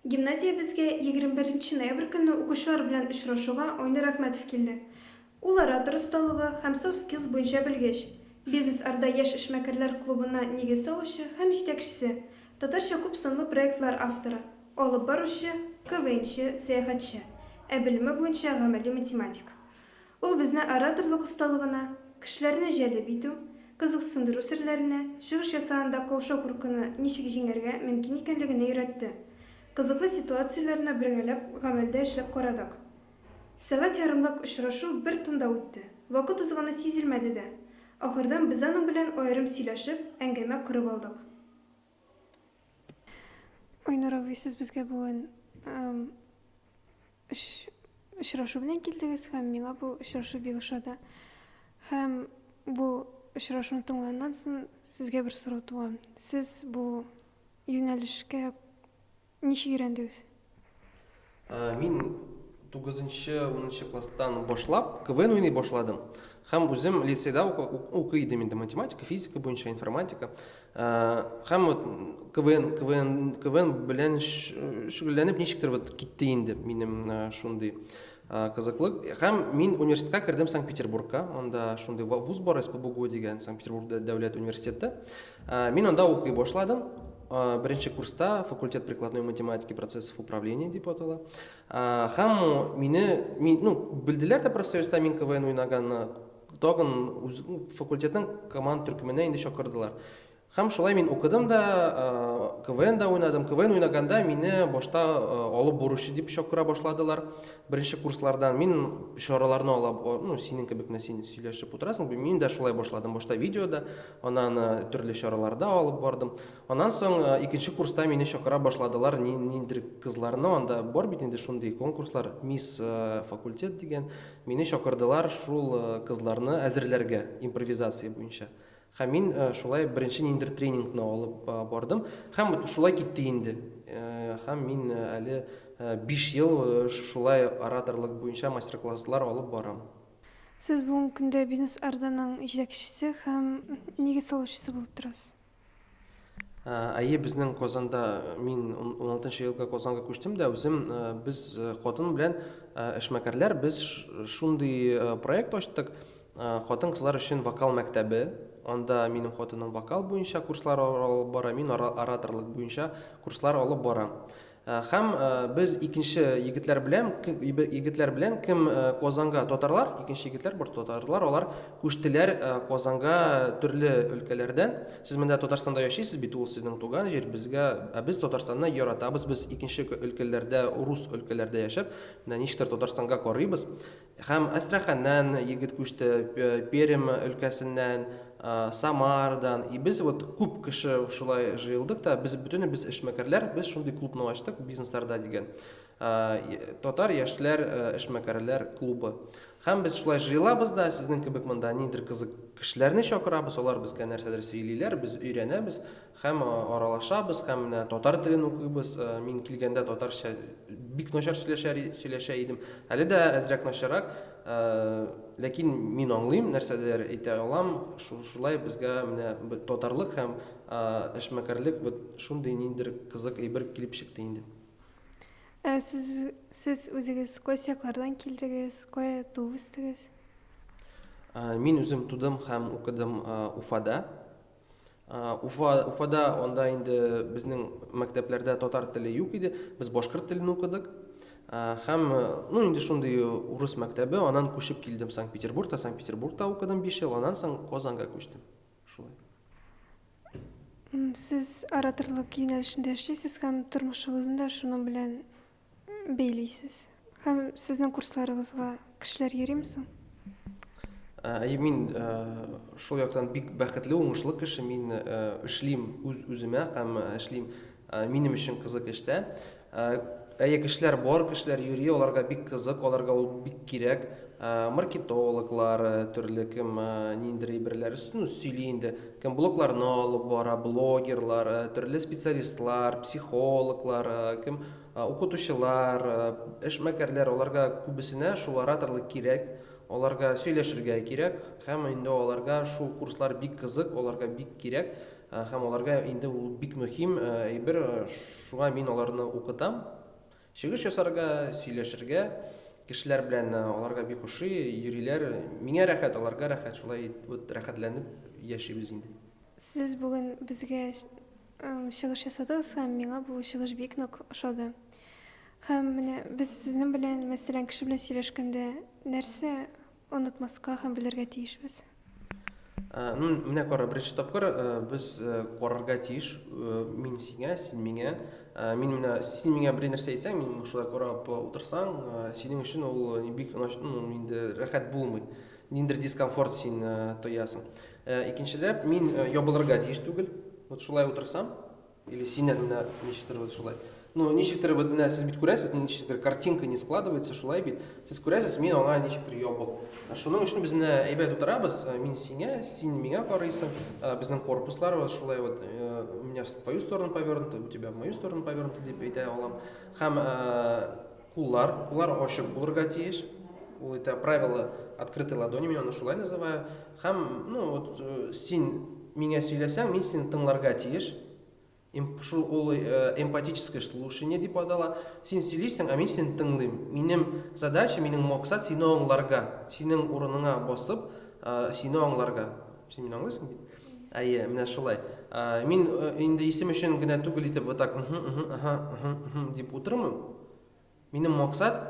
Гимназиябезгә 21 ноябрь көнне укучылар белән очрашуга Айнур Әхмәтов килде. Ул оратор осталыгы һәм soft skills буенча белгеч, Бизнес Орда яшь эшмәкәрләр клубына нигез салучы һәм җитәкчесе, татарча күп санлы проектлар авторы, алып баручы, КВНчы, сәяхәтче, ә белеме буенча гамәли математик. Ул безне ораторлык осталыгына, кешеләрне җәлеп итү, кызыксындыру серләренә, чыгыш ясаганда каушау-куркуны ничек җиңәргә мөмкин икәнлегенә өйрәтте. Кызыклы ситуацияләрне бергәләп гамәлдә эшләп карадык. Сәгать ярымлык очрашу бер тында үтте, вакыт узганы сизелмәде дә. Ахырдан без аның белән аерым сөйләшеп, әңгәмә корып алдык. Айнур абый, сез безгә бүген очрашу белән килдегез һәм миңа бу очрашу бик ошады. Һәм бу очрашуны тыңланнан соң сезгә бер сорау туа. Сез бу юнәлешкә Ничек өйрәндегез? Мин тугызынчы, унынчы класстан башлап КВН уйный башладым. Һәм үзем лицейда укый идем инде математика, физика буенча, информатика. Һәм вот КВН, КВН, КВН белән шөгыльләнеп ничектер вот китте инде минем шундый Кызыклы. Һәм мин университетка кердем Санкт-Петербургка. Анда шундый вуз бар, СПБГУ дигән, Санкт-Петербург дәүләт университеты. Мин анда укый башладым. Беренче курста факультет прикладной математики процессов управления дип атала. Һәм мине, мин, ну, белделәр дә профсоюзда мин КВН уйнаганны, тагын факультетның команд төркеменә инде чакырдылар. Һәм шулай мин укыдым да, КВН да уйнадым. КВН уйнаганда мине башта алып боручы дип чакыра башладылар. Беренче курслардан мин чараларны ала, ну, синең кебек менә син сөйләшеп утырасың, мин дә шулай башладым. Башта видеода, аннан төрле чараларда алып бардым. Аннан соң икенче курста мине чакыра башладылар, ниндидер кызларны, анда бар бит инде шундый конкурслар, мисс факультет дигән. Мине чакырдылар шул кызларны әзерләргә импровизация буенча. Һәм мин шулай беренче ниндидер тренингны алып бардым. Һәм шулай китте инде. Һәм мин әле биш ел шулай ораторлык буенча мастер-класслар алып барам. Сез бүгенге көндә Бизнес Орданың җитәкчесе һәм нигез салучысы булып торасыз. Әйе, безнең Казанда, мин уналтынчы елда Казанга күчтем дә, үзем, без хатын белән эшмәкәрләр, без шундый проект ачтык, хатын-кызлар өчен вокал мәктәбе. Анда минем хатыным вокал буенча курслар алып бара, мин ораторлык буенча курслар алып барам. Һәм без икенче егетләр белән, егетләр белән кем Казанга татарлар, икенче егетләр бер татарлар, алар күчтеләр Казанга төрле өлкәләрдән. Сез монда Татарстанда яшисез бит, ул сезнең туган җир, безгә, ә без Татарстанны яратабыз, без икенче өлкәләрдә, рус өлкәләрдә яшәп, менә ничектер Татарстанга карыйбыз. Һәм Әстраханьнан егет күчте, Пермь өлкәсеннән, Самардан. И без вот күп кеше шулай җыелдык та, без бөтенебез эшмәкәрләр, без шундый клубны ачтык, бизнесларда дигән. Татар яшьләр эшмәкәрләр клубы. Һәм без шулай җыелабыз да, сезнең кебек монда нидер кызык кешеләрне чакырабыз, алар безгә нәрсәдер сөйлиләр, без өйрәнәбез. Һәм аралашабыз, һәм менә татар телен укыйбыз. Мин килгәндә татарча бик начар сөйләшә сөйләшә идем. Әле дә әзрәк начаррак, ләкин мин аңлыйм, нәрсәдер әйтә алам. Шулай безгә менә татарлык һәм эшмәкәрлек вот шундый ниндидер кызык әйбер килеп чыкты инде. Ә сез, сез үзегез кайсы яклардан килдегез, кая туып үстегез? Мин үзем тудым һәм укыдым Уфада. Уфа, Уфада анда инде безнең мәктәпләрдә татар теле юк иде. Без башкорт телен укыдык. Һәм, ну, инде шундый урыс мәктәбе, анан күчеп килдем Санкт-Петербургта, Санкт-Петербургта укыдым 5 ел, анан соң Казанга күчтем. Шулай. Сез ораторлык юнәлешендә эшлисез һәм тормышыгызны да шуның белән Бәйлисез. Һәм сезнең курсларыгызга кешеләр йөрим соң? Әйе, мин шул яктан бик бәхетле, уңышлы кеше. Мин эшлим үз үземә һәм эшлим минем өчен кызык эштә. Әйе, кешеләр бар, кешеләр йөри, аларга бик кызык, аларга ул бик кирәк. Маркетологлар, төрле кем ниндидер әйберләр өстен үз сөйли инде. Кем блогларны алып бара, блогерлар, төрле специалистлар, психологлар, кем укытучылар, эшмәкәрләр, аларга күбесенә шул ораторлык кирәк, аларга сөйләшергә кирәк, һәм инде аларга шул курслар бик кызык, аларга бик кирәк, һәм аларга инде ул бик мөһим әйбер, шуңа мин аларны укытам. Чыгыш ясарга, сөйләшергә, кешеләр белән аларга бик ошый, йөриләр. Миңа рәхәт, аларга рәхәт, шулай вот рәхәтләнеп яшибез инде. Сез бүген безгә чыгыш ясадыгыз һәм миңа бу чыгыш бик нык ошады. Һәм менә без сезнең белән мәсәлән кеше белән сөйләшкәндә нәрсә Онытмаска һәм белергә тиешбез. Ну, менә кара, беренче тапкыр без карарга тиеш, мин сиңа, син миңа. Мин менә син миңа бер нәрсә әйтсәң, мин шулай карап утырсаң, синең өчен ул бик ну, инде рәхәт булмый. Ниндер дискомфорт син тоясың. Икенчеләп, мин ябылырга тиеш түгел. Вот шулай утырсам, Или син әннә ничектер вот шулай. Ну, ничектер вот менә сез бит күрәсез, ничектер картинка не складывается, шулай бит. Сез күрәсез, мин аңа ничектер ябык. Шуның өчен без менә әйбәт утырабыз, э, мин сиңа, син миңа карыйсың. Э, безнең корпуслар вот шулай вот, э, у меня в твою сторону повернуто, у тебя в мою сторону повернуто дип әйтә алам. Һәм куллар, куллар ачык булырга тиеш. Ул это правило открытой ладони, мин аны шулай называю. Һәм, ну, вот, син миңа сөйләсәң, мин сине тыңларга тиеш. Эм, шул ул эмпатическое слушание дип атала. Син сөйлисең, ә мин сине тыңлыйм. Минем задача, минем максат сине аңларга, синең урыныңа басып, сине аңларга. Син мине аңлыйсың бит? Әйе, менә шулай. Мин инде исем өчен генә түгел итеп вот так, угу, угу, ага, угу, угу дип утырмыйм. Минем максат,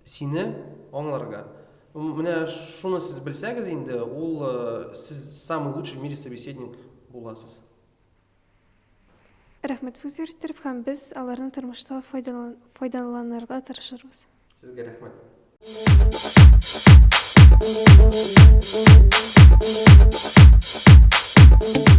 сине аңларга. Менә шуны сез белсәгез инде, ул сез самый лучший в мире собеседник буласыз. Рәхмәт виз йөрттереп һәм без аларны тормышта файдаланырга тырышырбыз. Сезгә рәхмәт. Thank you.